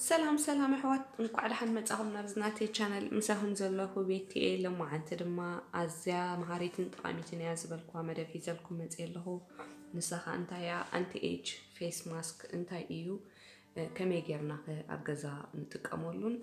ሰላም ሰላም ኣሕዋት እንኳዕ ደሓን መጻኹም ናብዚ ናተይ ቻነል ምሳኹም ዘለኹ ቤቲ እየ ለማዓንቲ ድማ ኣዝያ መሃሪትን ጠቓሚትን እያ ዝበልኩዋ መደብ ሒዘልኩም መጽ ኣለኹ ንሳ ኸ እንታይ እያ ኣንቲ ኤጅ ፌስ ማስክ እንታይ እዩ ከመይ ጌርና ኸ ኣብ ገዛ ንጥቀመሉን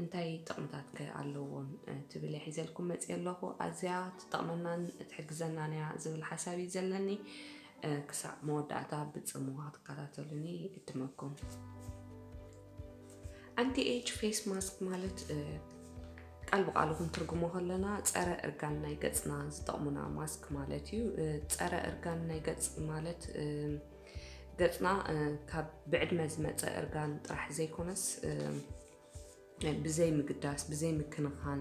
እንታይ ጥቕምታት ከ ኣለዎም ትብል እየ ሒዘልኩም መፂኤ ኣለኹ። ኣዝያ ትጠቕመናን ትሕግዘናን እያ ዝብል ሓሳብ እዩ ዘለኒ። ክሳዕ መወዳእታ ብፅምዋ ክትከታተሉኒ ይዕድመኩም። ኣንቲ ኤጅ ፌስ ማስክ ማለት ቃል ብቃሉ ክንትርጉሞ ከለና ፀረ እርጋን ናይ ገፅና ዝጠቕሙና ማስክ ማለት እዩ። ፀረ እርጋን ናይ ገፅ ማለት ገፅና ካብ ብዕድመ ዝመፀ እርጋን ጥራሕ ዘይኮነስ ብዘይ ምግዳስ ብዘይ ምክንኻን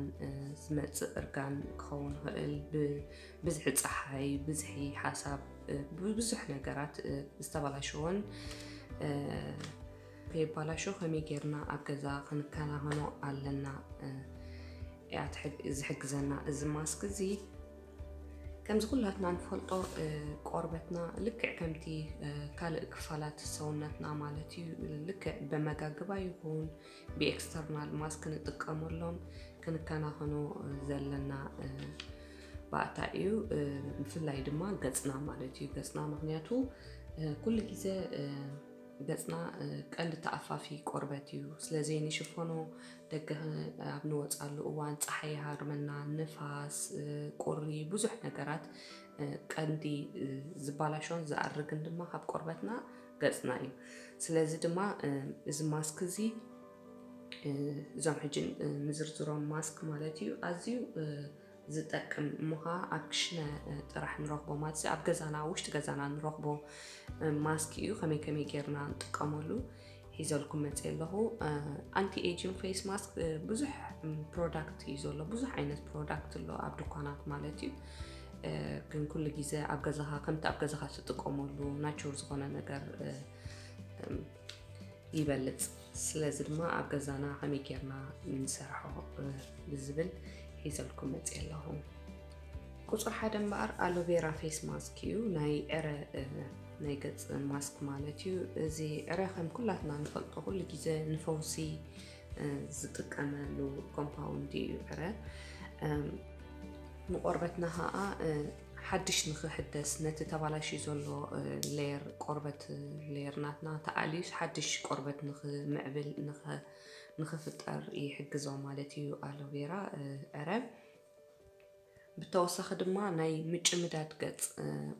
ዝመፅእ እርጋን ክኸውን ይኽእል። ብብዝሒ ፀሓይ፣ ብዝሒ ሓሳብ፣ ብብዙሕ ነገራት ዝተበላሸወን ከይበላሾ ከመይ ጌርና ኣብ ገዛ ክንከናኸኖ ኣለና እያ ዝሕግዘና እዚ ማስክ እዚ ከምዚ ኩላትና ንፈልጦ ቆርበትና ልክዕ ከምቲ ካልእ ክፋላት ሰውነትና ማለት እዩ ልክዕ በመጋግባ ይኹን ብኤክስተርናል ማስ ክንጥቀመሎም ክንከናኸኖ ዘለና ባእታ እዩ ብፍላይ ድማ ገፅና ማለት እዩ ገፅና ምክንያቱ ኩሉ ግዜ ገጽና ቀንዲ ተኣፋፊ ቆርበት እዩ፣ ስለዘይንሽፈኖ ደገ ኣብ ንወጻሉ እዋን ጸሓይ ይሃርመና፣ ንፋስ፣ ቁሪ ብዙሕ ነገራት ቀንዲ ዝባላሾን ዝኣርግን ድማ ካብ ቆርበትና ገጽና እዩ። ስለዚ ድማ እዚ ማስክ እዚ እዞም ሕጂ ንዝርዝሮም ማስክ ማለት እዩ ኣዝዩ ዝጠቅም እሞ ኸኣ ኣብ ክሽነ ጥራሕ ንረኽቦ ማለት እዚ ኣብ ገዛና ኣብ ውሽጢ ገዛና ንረኽቦ ማስክ እዩ ከመይ ከመይ ጌርና ንጥቀመሉ ሒዘልኩም መፅእ ኣለኹ ኣንቲ ኤጅን ፌስ ማስክ ብዙሕ ፕሮዳክት እዩ ዘሎ ብዙሕ ዓይነት ፕሮዳክት ኣሎ ኣብ ድኳናት ማለት እዩ ግን ኩሉ ግዜ ኣብ ገዛኻ ከምቲ ኣብ ገዛኻ ትጥቀመሉ ናቹር ዝኾነ ነገር ይበልፅ ስለዚ ድማ ኣብ ገዛና ከመይ ጌርና ንሰርሖ ብዝብል ሒዘልኩም መፅ ኣለኹ ቁፅሪ ሓደ እምበኣር ኣሎቬራ ፌስ ማስክ እዩ ናይ ዕረ ናይ ገፅ ማስክ ማለት እዩ እዚ ዕረ ከም ኩላትና ንፈልጦ ኩሉ ግዜ ንፈውሲ ዝጥቀመሉ ኮምፓውንድ እዩ ዕረ ንቆርበትና ከዓ ሓድሽ ንክሕደስ ነቲ ተባላሽ ዘሎ ሌየር ቆርበት ሌየር ናትና ተኣልዩስ ሓድሽ ቆርበት ንክምዕብል ንክፍጠር ይሕግዞ ማለት እዩ ኣሎቬራ ዕረ ብተወሳኺ ድማ ናይ ምጭምዳድ ገጽ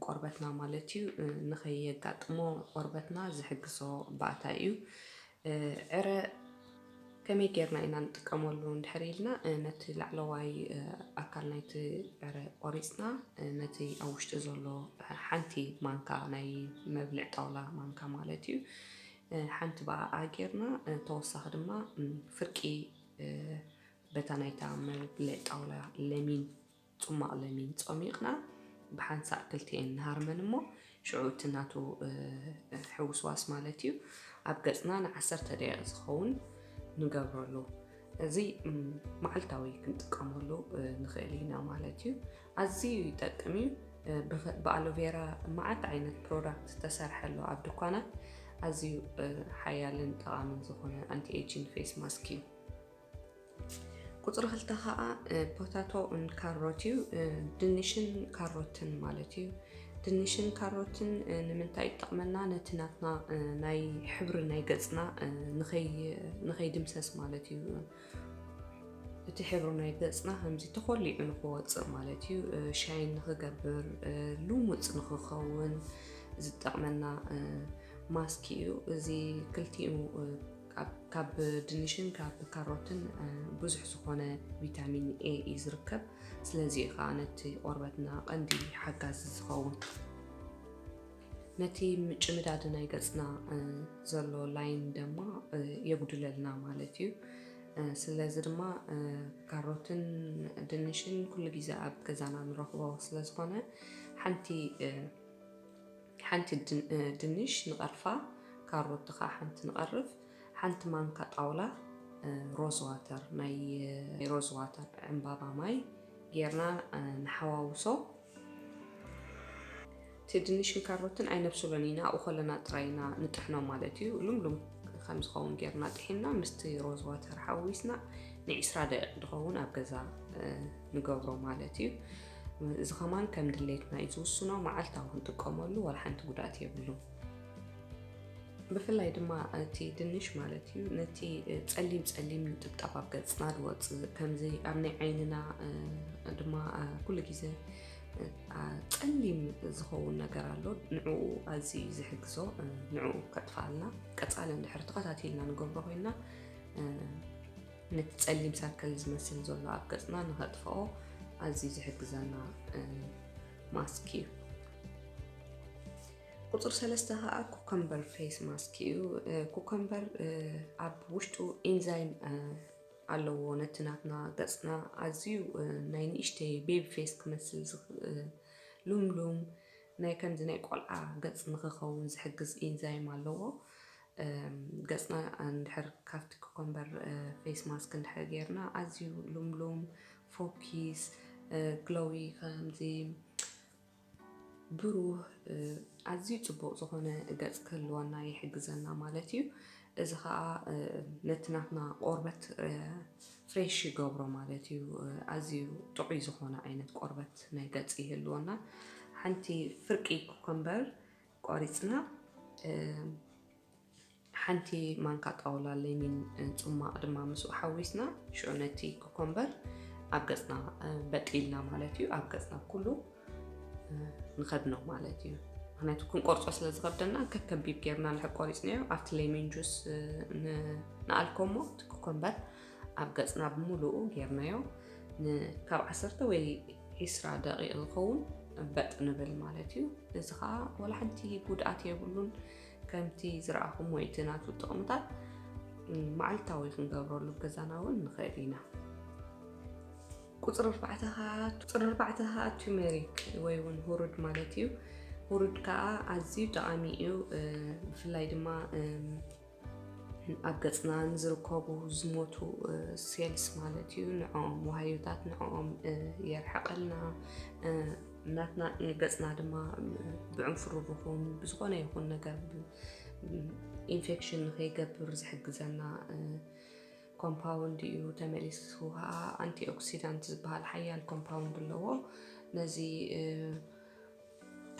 ቆርበትና ማለት እዩ ንኸየጋጥሞ ቆርበትና ዝሕግዞ ባእታ እዩ። ዕረ ከመይ ጌርና ኢና ንጥቀመሉ እንድሕር ኢልና ነቲ ላዕለዋይ ኣካል ናይቲ ዕረ ቆሪጽና ነቲ ኣብ ውሽጢ ዘሎ ሓንቲ ማንካ ናይ መብልዕ ጣውላ ማንካ ማለት እዩ ሓንቲ ብኣኣ ጌርና ተወሳኺ ድማ ፍርቂ በታ ናይታ መብልዕ ጣውላ ለሚን ጹማቕ ለሚን ጾሚቕና ብሓንሳእ ክልቲኤን ንሃርመን እሞ ሽዑ እቲ ናቱ ሕውስዋስ ማለት እዩ ኣብ ገጽና ንዓሰርተ ደቂቕ ዝኸውን ንገብረሉ እዚ መዓልታዊ ክንጥቀመሉ ንኽእል ኢና ማለት እዩ ኣዝዩ ይጠቅም እዩ ብኣሎቬራ መዓት ዓይነት ፕሮዳክት ዝተሰርሐ ኣሎ ኣብ ድኳናት ኣዝዩ ሓያልን ጠቓምን ዝኾነ ኣንቲ ኤጂን ፌስ ማስክ እዩ ቁፅሪ ክልተ ከዓ ፖታቶ ን ካሮት እዩ ድንሽን ካሮትን ማለት እዩ ድንሽን ካሮትን ንምንታይ ይጠቕመና ነቲ ናትና ናይ ሕብሪ ናይ ገፅና ንኸይድምሰስ ማለት እዩ እቲ ሕብሪ ናይ ገፅና ከምዚ ተኾሊዑ ንክወፅእ ማለት እዩ ሻይን ንክገብር ልሙፅ ንክኸውን ዝጠቕመና ማስክ እዩ እዚ ክልቲኡ ካብ ድንሽን ካብ ካሮትን ብዙሕ ዝኾነ ቪታሚን ኤ እዩ ዝርከብ። ስለዚ እዩ ከዓ ነቲ ቆርበትና ቀንዲ ሓጋዚ ዝኸውን። ነቲ ምጭምዳድ ናይ ገፅና ዘሎ ላይን ድማ የጉድለልና ማለት እዩ። ስለዚ ድማ ካሮትን ድንሽን ኩሉ ግዜ ኣብ ገዛና ንረኽቦ ስለዝኾነ ሓንቲ ሓንቲ ድንሽ ንቐርፋ፣ ካሮት ከኣ ሓንቲ ንቐርፍ፣ ሓንቲ ማንካ ጣውላ ሮዝ ዋተር ናይ ሮዝ ዋተር ዕምባባ ማይ ጌርና ንሓዋውሶ። እቲ ድንሽን ካሮትን ኣይነብስሎን ኢና፣ ኣብኡ ከለና ጥራይ ኢና ንጥሕኖ ማለት እዩ። ልምሉም ከም ዝኸውን ጌርና ጥሒንና ምስቲ ሮዝ ዋተር ሓዊስና ንዒስራ ደቂቕ ዝኸውን ኣብ ገዛ ንገብሮ ማለት እዩ። እዚ ከማን ከም ድሌትና እዩ ዝውስኖ መዓልታዊ ክንጥቀመሉ ዋላ ሓንቲ ጉድኣት የብሉ ብፍላይ ድማ እቲ ድንሽ ማለት እዩ ነቲ ፀሊም ፀሊም ጥብጣብ ኣብ ገፅና ዝወፅእ ከምዚ ኣብ ናይ ዓይንና ድማ ኩሉ ግዜ ፀሊም ዝኸውን ነገር ኣሎ ንዕኡ ኣዝዩ ዝሕግዞ ንዕኡ ከጥፋልና ቀፃሊ እንድሕር ተኸታቲልና ንገብሮ ኮይና ነቲ ጸሊም ሳርከል ዝመስል ዘሎ ኣብ ገጽና ንኸጥፍኦ ኣዝዩ ዝሕግዘና ማስክ እዩ ቁፅር ሰለስተ ከዓ ኩከምበር ፌስ ማስክ እዩ ኩከምበር ኣብ ውሽጡ ኢንዛይም ኣለዎ ነቲ ናትና ገፅና ኣዝዩ ናይ ንእሽተይ ቤቢ ፌስ ክመስል ሉምሉም ናይ ከምዚ ናይ ቆልዓ ገፅ ንክኸውን ዝሕግዝ ኢንዛይም ኣለዎ ገጽና እንድሕር ካብቲ ኩከምበር ፌስ ማስክ እንድሕር ጌርና ኣዝዩ ልምሉም ፎኪስ ግሎዊ ከምዚ ብሩህ ኣዝዩ ጽቡቕ ዝኾነ ገጽ ክህልወና ይሕግዘና ማለት እዩ። እዚ ኸኣ ነቲ ናትና ቆርበት ፍሬሽ ይገብሮ ማለት እዩ ኣዝዩ ጥዑይ ዝኾነ ዓይነት ቆርበት ናይ ገጽ ይህልወና ሓንቲ ፍርቂ ኩከምበር ቋሪጽና ሓንቲ ማንካ ጣውላ ለሚን ጽማቕ ድማ ምስኡ ሓዊስና ሽዑ ነቲ ኮኮምበር ኣብ ገጽና በጢልና ማለት እዩ ኣብ ገጽና ኩሉ ንኸድኖ ማለት እዩ ምክንያቱ ክንቆርፆ ስለ ዝኸብደና ከከቢብ ጌርና ንድሕር ቆሪፅናዮ ኣብቲ ሌሚን ጁስ ንኣልኮሞ እቲ ኮኮምበር ኣብ ገጽና ብምሉኡ ጌርናዮ ንካብ ዓሰርተ ወይ ዒስራ ደቂቕ ዝኸውን በጥ ንብል ማለት እዩ። እዚ ከዓ ወላ ሓንቲ ጉድኣት የብሉን። ከምቲ ዝረኣኹም ወይ እቲ ናቱ ጥቕምታት መዓልታዊ ክንገብረሉ ገዛና እውን ንኽእል ኢና። ቁፅሪ ኣርባዕተ ከዓ ቱሜሪክ ወይ እውን ሁሩድ ማለት እዩ። ሁሩድ ከዓ ኣዝዩ ጠቓሚ እዩ። ብፍላይ ድማ ኣብ ገፅና ንዝርከቡ ዝሞቱ ሴልስ ማለት እዩ ንዕኦም ዋህዮታት ንዕኦም የርሕቀልና ናትና ገፅና ድማ ብዕንፍሩ ብኹን ብዝኾነ ይኹን ነገር ኢንፌክሽን ንከይገብር ዝሕግዘና ኮምፓውንድ እዩ ተመሊሱ ከዓ ኣንቲ ኦክሲዳንት ዝበሃል ሓያል ኮምፓውንድ ኣለዎ ነዚ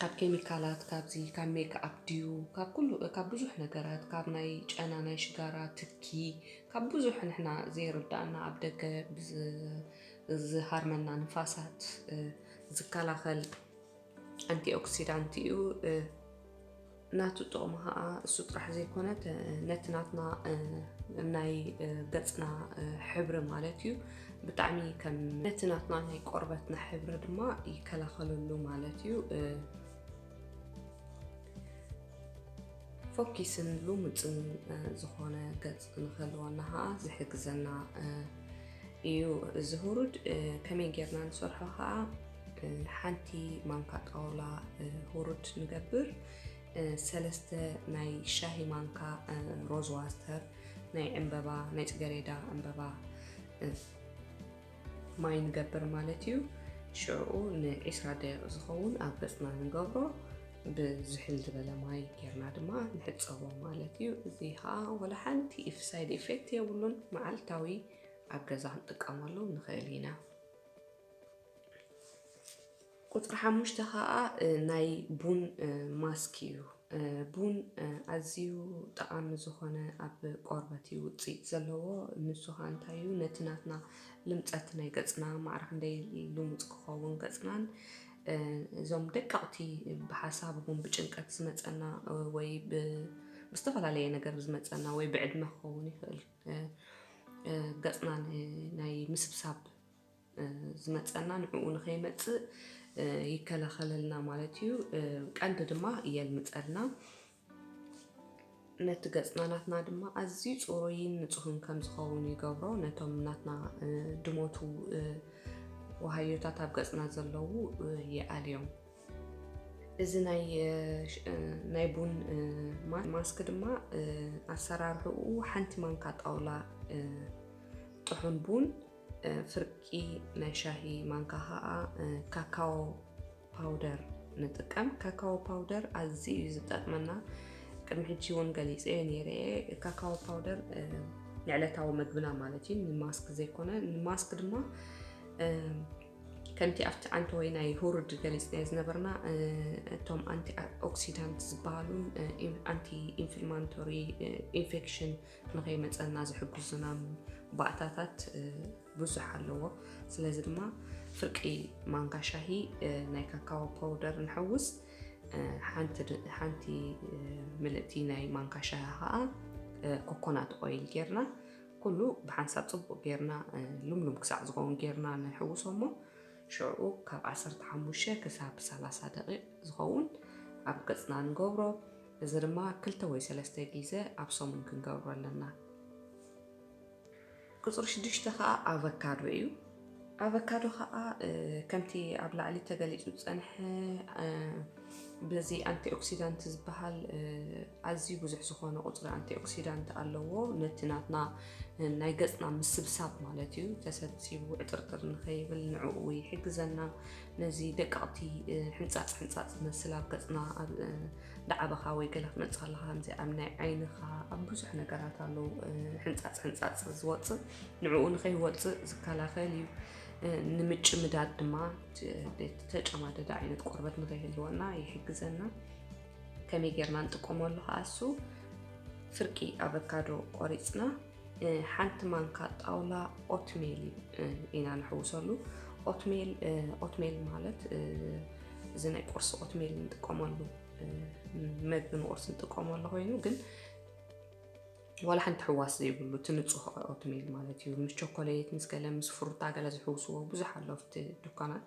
ካብ ኬሚካላት ካብዚ ካብ ሜክኣፕ ድዩ ካብ ኩሉ ካብ ብዙሕ ነገራት ካብ ናይ ጨና ናይ ሽጋራ ትኪ ካብ ብዙሕ ንሕና ዘይርዳእና ኣብ ደገ ዝሃርመና ንፋሳት ዝከላኸል ኣንቲኦክሲዳንት እዩ። ናቱ ጥቕሚ ኸኣ እሱ ጥራሕ ዘይኮነ ነቲ ናትና ናይ ገጽና ሕብሪ ማለት እዩ ብጣዕሚ ከም ነቲ ናትና ናይ ቆርበትና ሕብሪ ድማ ይከላኸለሉ ማለት እዩ ፎኪስን ልሙጽን ዝኾነ ገጽ ክንኸልወና ኸዓ ዝሕግዘና እዩ እዚ ሁሩድ ከመይ ጌርና ንሰርሖ ኸዓ ሓንቲ ማንካ ጣውላ ሁሩድ ንገብር ሰለስተ ናይ ሻሂ ማንካ ሮዝ ዋስተር ናይ ዕምበባ ናይ ፅገሬዳ ዕምበባ ማይ ንገብር ማለት እዩ ሽዑኡ ንዒስራ ደቂቕ ዝኸውን ኣብ ገጽና ንገብሮ ብዝሕል ዝበለ ማይ ጌርና ድማ ንሕጸቦ ማለት እዩ እዚ ከዓ ወላ ሓንቲ ኢፍ ሳይድ ኢፌክት የብሉን መዓልታዊ ኣብ ገዛ ክንጥቀመሉ ንኽእል ኢና ቁጽሪ ሓሙሽተ ከኣ ናይ ቡን ማስክ እዩ። ቡን ኣዝዩ ጠቓሚ ዝኾነ ኣብ ቆርበት እዩ ውጽኢት ዘለዎ። ንሱ ከኣ እንታይ እዩ ነቲ ናትና ልምጸት ናይ ገጽና ማዕረ ክንደይ ልሙጽ ክኸውን ገጽናን እዞም ደቀቕቲ ብሓሳብ ይኹን ብጭንቀት ዝመጸና ወይ ብዝተፈላለየ ነገር ዝመጸና ወይ ብዕድመ ክኸውን ይኽእል ገጽና ናይ ምስብሳብ ዝመጸና ንዕኡ ንኸይመጽእ ይከላኸለልና ማለት እዩ። ቀንዲ ድማ የልምጸልና። ነቲ ገጽና ናትና ድማ ኣዝዩ ጽሩይን ንጹህን ከም ዝኸውን ይገብሮ። ነቶም ናትና ድሞቱ ወሃዮታት ኣብ ገጽና ዘለዉ ይኣልዮም። እዚ ናይ ቡን ማስክ ድማ ኣሰራርሕኡ ሓንቲ ማንካ ጣውላ ጥሑን ቡን ፍርቂ ናይ ሻሂ ማንካ ከዓ ካካዎ ፓውደር ንጥቀም። ካካዎ ፓውደር ኣዝዩ እዩ ዝጠቅመና። ቅድሚ ሕጂ እውን ገሊፀዮ ነይረ እየ። ካካዎ ፓውደር ንዕለታዊ መግብና ማለት እዩ፣ ንማስክ ዘይኮነ። ንማስክ ድማ ከምቲ ኣብቲ ዓንተ ወይ ናይ ሁሩድ ገሊፅናዮ ዝነበርና እቶም ኣንቲ ኦክሲዳንት ዝበሃሉን ኣንቲ ኢንፍልማንቶሪ ኢንፌክሽን ንከይመፀና ዝሕግዙና ባእታታት ብዙሕ ኣለዎ። ስለዚ ድማ ፍርቂ ማንካ ሻሂ ናይ ካካዎ ፓውደር ንሕውስ፣ ሓንቲ ምልእቲ ናይ ማንካ ሻሂ ከዓ ኮኮናት ኦይል ጌርና ኩሉ ብሓንሳብ ፅቡቅ ጌርና ልምሉም ክሳዕ ዝኸውን ጌርና ንሕውሶ እሞ ሽዑ ካብ 15 ክሳብ 30 ደቂቅ ዝኸውን ኣብ ገፅና ንገብሮ። እዚ ድማ ክልተ ወይ ሰለስተ ጊዘ ኣብ ሰሙን ክንገብሮ ኣለና። ቁጽሪ ሽዱሽተ ከኣ ኣቨካዶ እዩ። ኣቨካዶ ከኣ ከምቲ ኣብ ላዕሊ ተገሊጹ ዝጸንሐ በዚ ኣንቲኦክሲዳንት ዝበሃል ኣዝዩ ብዙሕ ዝኾነ ቁፅሪ ኣንቲኦክሲዳንት ኣለዎ ነቲ ናትና ናይ ገፅና ምስብሳብ ማለት እዩ ተሰብሲቡ ዕጥርጥር ንኸይብል ንዕኡ ይሕግዘና ነዚ ደቀቕቲ ሕንጻጽ ሕንጻጽ ዝመስል ኣብ ገጽና ኣብ ዳዓበኻ ወይ ገለ ክትመጽእ ከለኻ ከምዚ ኣብ ናይ ዓይንኻ ኣብ ብዙሕ ነገራት ኣለዉ ሕንጻጽ ሕንጻጽ ዝወጽእ ንዕኡ ንኸይወጽእ ዝከላኸል እዩ ንምጭምዳድ ድማ ተጨማደደ ዓይነት ቆርበት ንኸይህልወና ይሕግዘና ከመይ ጌርና ንጥቀመሉ ከኣሱ ፍርቂ ኣቨካዶ ቆሪፅና ሓንቲ ማንካ ጣውላ ኦትሜል ኢና ንሕውሰሉ። ኦትሜል ኦትሜል ማለት እዚ ናይ ቁርሲ ኦትሜል ንጥቀመሉ መግቢ ንቁርሲ ንጥቀመሉ ኮይኑ ግን ዋላ ሓንቲ ሕዋስ ዘይብሉ እቲ ንፁህ ኦትሜል ማለት እዩ ምስ ቾኮሌት ምስ ገለ ምስ ፍሩታ ገለ ዝሕውስዎ ብዙሕ ኣሎ ኣብቲ ዱካናት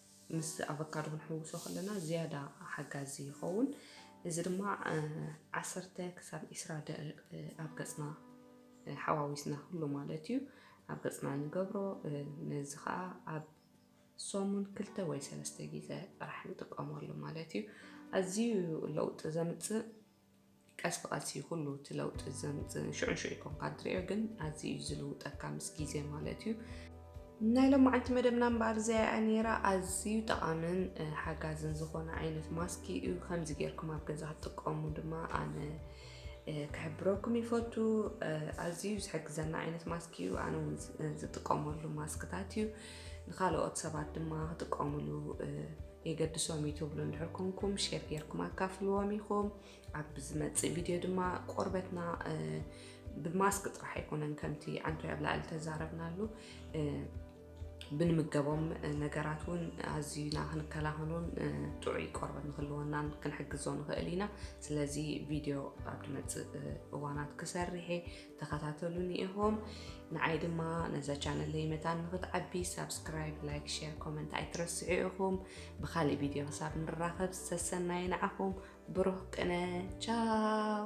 ምስ ኣቨካዶ ክንሕውሶ ከለና ዝያዳ ሓጋዚ ይኸውን። እዚ ድማ ዓሰርተ ክሳብ ዒስራ ደቂቅ ኣብ ገጽና ሓዋዊስና ኩሉ ማለት እዩ ኣብ ገጽና ንገብሮ። ነዚ ከዓ ኣብ ሰሙን ክልተ ወይ ሰለስተ ግዜ ጥራሕ ንጥቀመሉ ማለት እዩ። ኣዝዩ ለውጢ ዘምጽእ ቀስ ብቐስ እዩ ኩሉ እቲ ለውጢ ዘምፅእ ሽዑ ሽዑ ይኮንካ እትሪኦ ግን ኣዝዩ እዩ ዝልውጠካ ምስ ግዜ ማለት እዩ ናይ ሎማዓንቲ መደብና እምበኣር እዚኣ ነይራ ኣዝዩ ጠቓምን ሓጋዝን ዝኾነ ዓይነት ማስኪ እዩ ከምዚ ጌርኩም ኣብ ገዛ ክትጥቀሙ ድማ ኣነ ክሕብረኩም ይፈቱ ኣዝዩ ዝሕግዘና ዓይነት ማስኪ እዩ ኣነ እውን ዝጥቀመሉ ማስክታት እዩ ንኻልኦት ሰባት ድማ ክጥቀሙሉ የገድሶም እዩ ትብሉ እንድሕር ኮንኩም ሼር ጌርኩም ኣካፍልዎም ኢኹም ኣብ ዝመፅእ ቪድዮ ድማ ቆርበትና ብማስክ ጥራሕ ኣይኮነን ከምቲ ዓንቶይ ኣብ ላዕሊ ተዛረብናሉ ብንምገቦም ነገራት እውን ኣዝዩና ክንከላኸሎን ጥዑይ ቆርበት ንክልወናን ክንሕግዞ ንኽእል ኢና ስለዚ ቪድዮ ኣብ ድመፅእ እዋናት ክሰርሔ ተኸታተሉኒ ኢኹም ንዓይ ድማ ነዛ ቻነለይ መታን ንኽትዓቢ ሳብስክራይብ ላይክ ሼር ኮመንት ኣይትረስዑ ኢኹም ብካሊእ ቪድዮ ክሳብ ንራኸብ ሰሰናይ ንዓኹም ብሩህ ቅነ ቻው